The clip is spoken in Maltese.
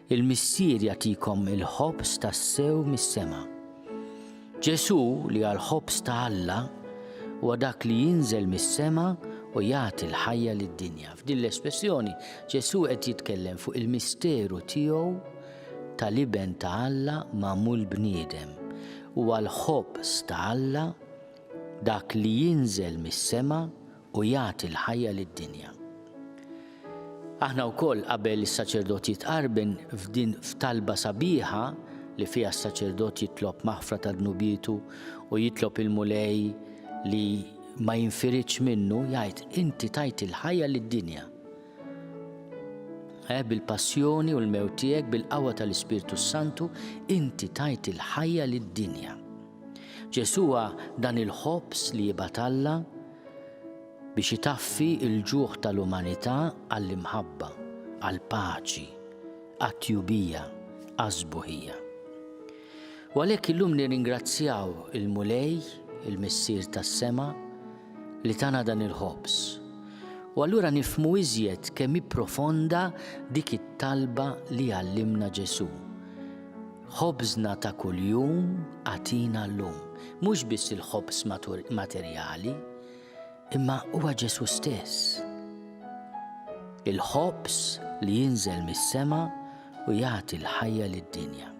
il-Missier jagħtikom il-ħobż tas-sew mis-sema. Ġesu li għal ħobż ta' Alla huwa dak li jinżel mis-sema u jagħti l-ħajja lid-dinja. F'din l-espressjoni Ġesu qed jitkellem fuq il-misteru tiegħu tal-Iben ta' Alla magħmul bniedem huwa l-ħobż ta' Alla, dak li jinżel mis-sema u jagħti l-ħajja lid-dinja. Aħna wkoll qabel is-saċerdot jitqarben f'din f'talba sabiħa li fiha s-saċerdot jitlob maħfra ta' dnubietu u jitlob il-Mulej li ma jinfiridx minnu jgħid inti tajt il-ħajja lid-dinja. Eh, bil-passjoni u l-mewt tiegħek bil-qawwa tal-Ispirtu s-Santu, inti tajt il-ħajja lid-dinja. Ġesuwa dan il-ħobż li jibgħat Alla biex itaffi il-ġuħ tal-umanità għall-imħabba, għall-paċi, għat-tjubija, għaż-żbuħija. U għalhekk illum nirringrazzjaw il-Mulej, il-Missier tas-sema, li tana dan il-ħobż. U allura nifhmu iżjed kemm hi profonda dik it-talba li għallimna Ġesù. Ħobżna ta' kuljum għatina llum, mhux biss il-ħobż materjali, imma huwa Ġesù stess. Il-ħobż li jinżel mis-sema u jagħti l-ħajja lid-dinja.